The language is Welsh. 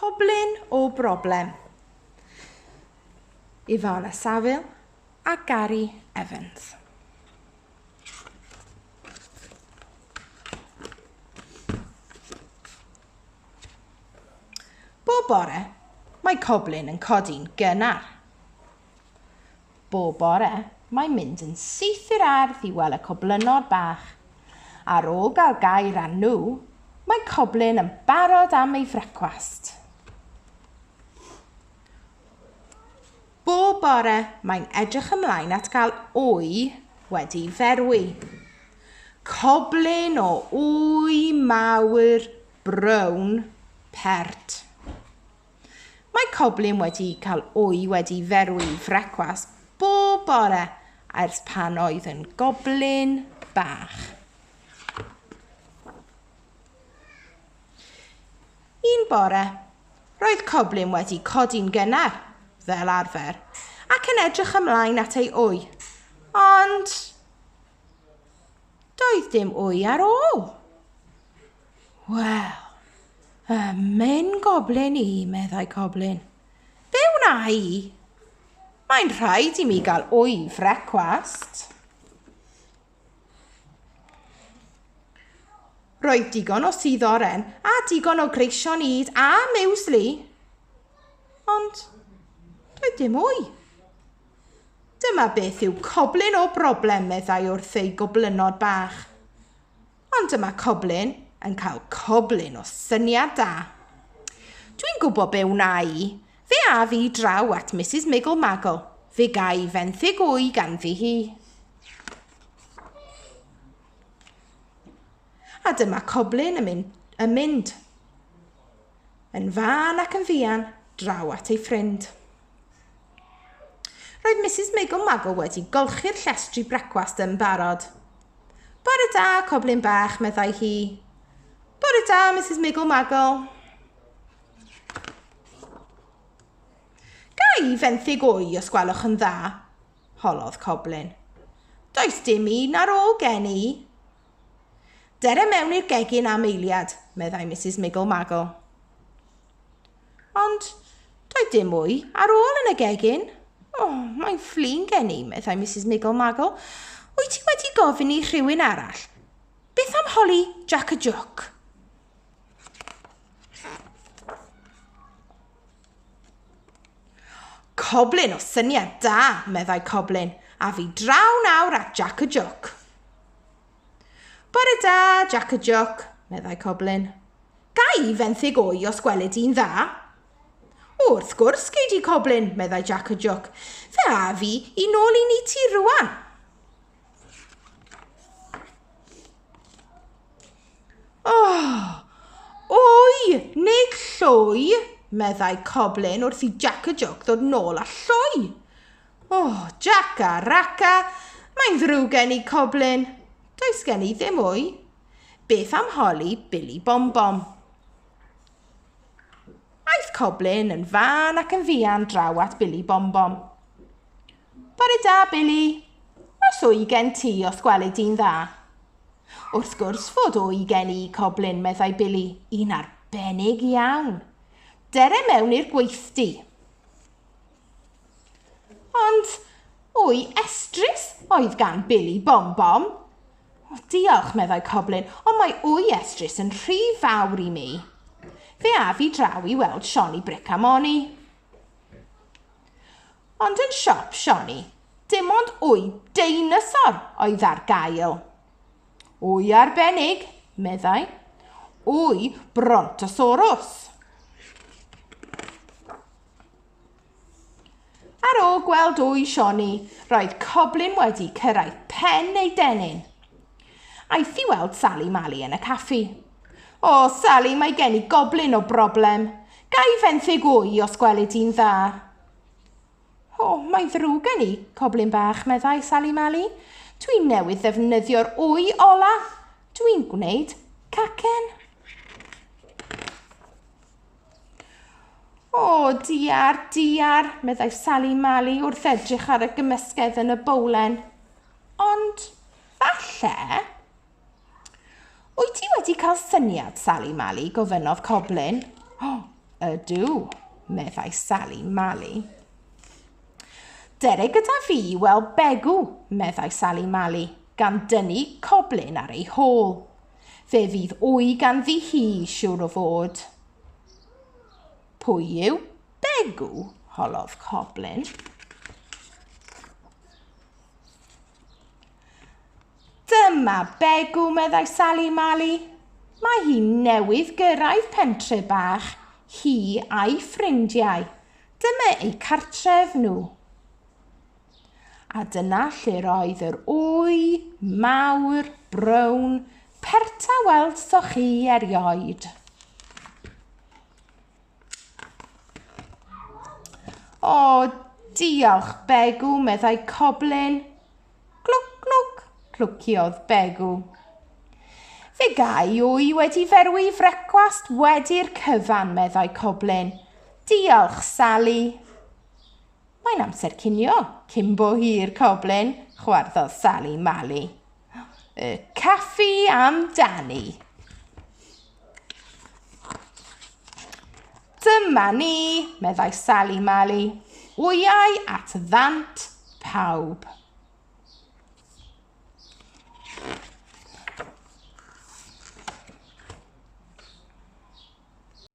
Coblyn o broblem. Ivana Saville a Gary Evans. Bob bore, mae coblyn yn codi'n gynnar. Bob bore, mae'n mynd yn syth i'r ardd i weld y coblynnod bach. Ar ôl gael gair â nhw, mae coblyn yn barod am ei frecwast. Bob bore, mae'n edrych ymlaen at gael wy wedi ferwi. Coblyn o wy mawr brown pert. Mae Coblyn wedi cael wy wedi ferwi i frecwast bob bore ers pan oedd yn goblyn bach. Un bore, roedd Coblyn wedi codi'n gynnar, fel arfer, ac yn edrych ymlaen at ei wy. Ond doedd dim wy ar ôl. Wel, y myn goblin i, meddai Coblin. Be wna i? Mae'n rhaid i mi gael wy frecwast. Roedd digon o sydd oren a digon o greision id a miwsli. Ond doedd dim wy. Dyma beth yw coblyn o broblem, meddai wrth ei goblynod bach. Ond dyma Coblyn yn cael coblyn o syniad da. Dwi'n gwybod be wna i. Fe a fi draw at Mrs Miggle Maggle. Fe gai fenthyg wy ganddi hi. A dyma Coblyn yn mynd, yn mynd yn fan ac yn fuan draw at ei ffrind. Roedd Misus Meigo Mago wedi golchi'r llestri brecwast yn barod. Bore da, coblyn bach, meddai hi. Bore da, Misus Meigo Mago. Gai fenthyg o'i os gwelwch yn dda? Holodd coblyn. Does dim un ar ôl gen i. Dere mewn i'r gegin am eiliad, meddai Misus Meigo Mago. Ond doedd dim mwy ar ôl yn y gegin. O, oh, mae'n fflin gen i, meddai Mrs Niggle Maggle. Wyt ti wedi gofyn i rhywun arall? Beth am holi Jack y Joc? Coblyn o syniad da, meddai Coblyn, a fi draw nawr at Jack y Joc. Bore da, Jac y Jwc, meddai Coblyn. Ga i fenthyg o'i os gweled di'n dda? O, wrth gwrs gei di, Coblyn, meddai Jac y Jwc. Fe a fi i nôl i ni ti rwan. Oh, oi, nid lloi, meddai Coblyn wrth i Jac y Jwc ddod nôl a lloi. O, Jaca, Raca, mae'n ddrwg gen i, Coblyn. Does gen i ddim wy. Beth am holi Billy Bombom? Aeth Coblyn yn fan ac yn fuan draw at Billy Bombom. Bore da, Billy. Oes wy gen ti os gweled di'n dda? Wrth gwrs fod wy gen i, Coblyn, meddai Billy, un arbennig iawn. Dere mewn i'r gweithdy. Ond wy estrys oedd gan Billy Bom Bom. O, diolch, meddai Coblyn, ond mae wy estrys yn rhy fawr i mi. Fe af i draw i weld Sioni Bric a Moni. Ond yn siop Sioni, dim ond wy deinosor oedd ar gael. Wy arbennig, meddai. Wy brontosaurus. Ar ôl gweld wy Sioni, roedd Coblyn wedi cyrraedd pen ei dennyn. Aeth i weld Sali Mali yn y caffi. O, Sali, mae gen i goblyn o broblem. Ga i fenthyg wy os gweli di'n dda? O, mae'n ddrwg gen i, coblyn bach, meddai Sali Mali. Dwi newydd ddefnyddio'r wy ola. Dwi'n gwneud cacen. O, diar, diar, meddai Sali Mali wrth edrych ar y gymysgedd yn y bowlen. Ond, falle... Wyt ti wedi cael syniad, Sali Mali, gofynnodd Coblin. O, oh, ydw, meddai Sali Mali. Dere gyda fi i weld Begw, meddai Sali Mali, gan dynnu coblyn ar ei hôl. Fe fydd wy ganddi hi, siwr o fod. Pwy yw Begw? holodd Coblyn. Dyma Begw, meddai Sali Mali. Mae hi newydd gyrraedd pentre bach, hi a'i ffrindiau. Dyma eu cartref nhw. A dyna lle'r oedd yr wy mawr, brown, perta weld so chi erioed. O, diolch, Begw, meddai Coblin. Glwc, glwc, clwciodd Begw. Fe gai wy wedi ferwi i frecwast wedi'r cyfan, meddai Coblin. Diolch, Sally. Mae'n amser cinio, cyn bo hir, Coblyn, chwarddodd Sali Mali. Y caffi am Dani. Dyma ni, meddai Sali Mali, wyau at ddant pawb.